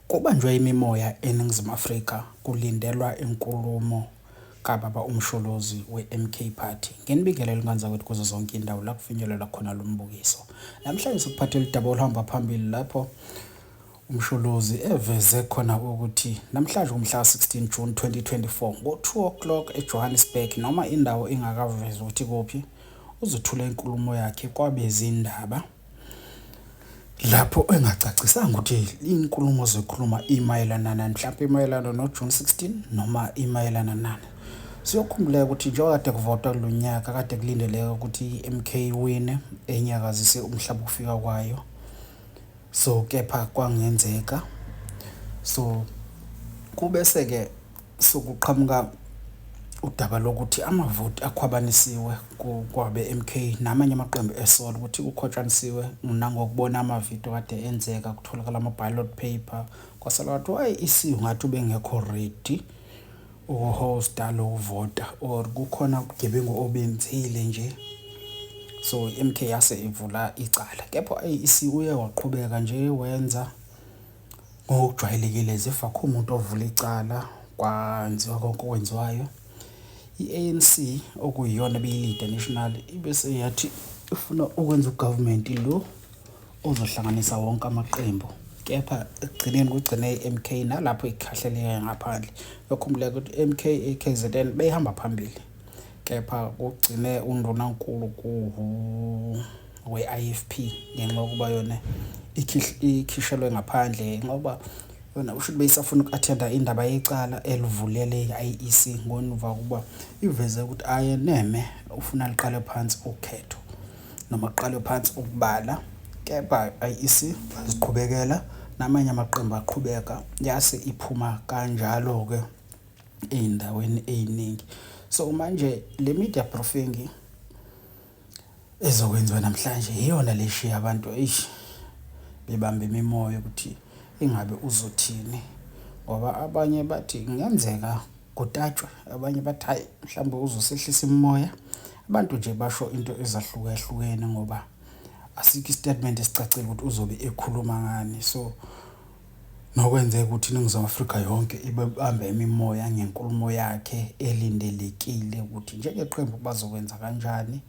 Kubanjwe imimoya eNingizimu Afrika kulindelwa inkulumo kababa uMsholozi weMK Party ngenibikelo elinganzakwethu kuzo zonke indawo la kufinyelelwa khona lo mbukiso. Namhlanje sikuphathela udaba oluhamba phambili lapho uMsholozi eveze khona ukuthi namhlanje kumhla 16 June 2024 ngo 2 o'clock eJohannesburg noma indawo ingakavezwa ukuthi kuphi uzothula inkulumo yakhe kwabezindaba. lapho engacacisanga ukuthi inkulumo zokhuluma imayelana nani mhlawumbe imayelana noJune 16 noma imayelana nani siyokhumbuleka ukuthi njengoba kade kuvotwa kulo nyaka kade kulindeleka ukuthi i-MK iwine enyakazise umhlaba ukufika kwayo so kepha kwangenzeka so kubese-ke Sekuqhamuka udaba lokuthi amavoti akhwabanisiwe kwabe-MK namanye amaqembu esola ukuthi kukhwatshanisiwe nangokubona amavidiyo kade enzeka kutholakala ama-ballot paper kwasala kwathi wayi isiwu ngathi ubengekho ready ukuhosta lokuvota or kukhona ubugebengu obenzile nje so i-MK yase ivula icala kepha ayi isiwu uye waqhubeka nje wenza Ngokujwayelekile zifa akukho muntu ovula icala kwanziwa konke okwenziwayo. I-A_N_C okuyiyona ebiyilida national ibe seyathi ifuna ukwenza u-government lo ozohlanganisa wonke amaqembu kepha ekugcineni kugcine i-M_K nalapho ikhahleleke ngaphandle. Uyokhumbula ukuthi i-M_K i-K_Z_N beyihamba phambili kepha kugcine undunankulu . we-IFP ngenxa yokuba yona ikhishelwe ngaphandle ngenxa yokuba yona usho ukuthi beyisafuna uku-athenda indaba yecala elivulele i-IEC ngonuva ukuba iveze ukuthi ayeneme ufuna liqale phansi ukhetho noma kuqalwe phansi ukubala kepha i-IEC baziqhubekela namanye amaqembu aqhubeka yase iphuma kanjalo-ke ey'ndaweni ey'ningi so manje le media proofing ezokwenziwa namhlanje iyona leshiya abantu eish bebambe imimoya ukuthi ingabe uzothini ngoba abanye bathi kungenzeka kutatshwe abanye bathi hayi mhlawumbe uzosehlisa imimoya abantu nje basho into ezahlukahlukene ngoba asikho istatement esicacile ukuthi uzobe ekhuluma ngani so Nokwenzeka ukuthi iNingizimu Afrika yonke ibebambe imimoya ngenkulumo yakhe elindelekile ukuthi njengeqembu bazokwenza kanjani,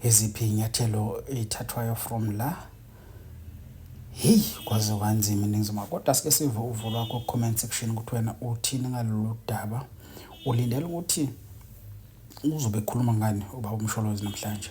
iziphi iy'nyathelo ey'thathwayo from la. Hheyi kwaze kwanzima iNingizimu kodwa sike sive uvo lwakho ku-comment section ukuthi wena uthini ngalolu daba. Ulindele ukuthi uzobe ekhuluma ngani ubaba uMsholozi namhlanje?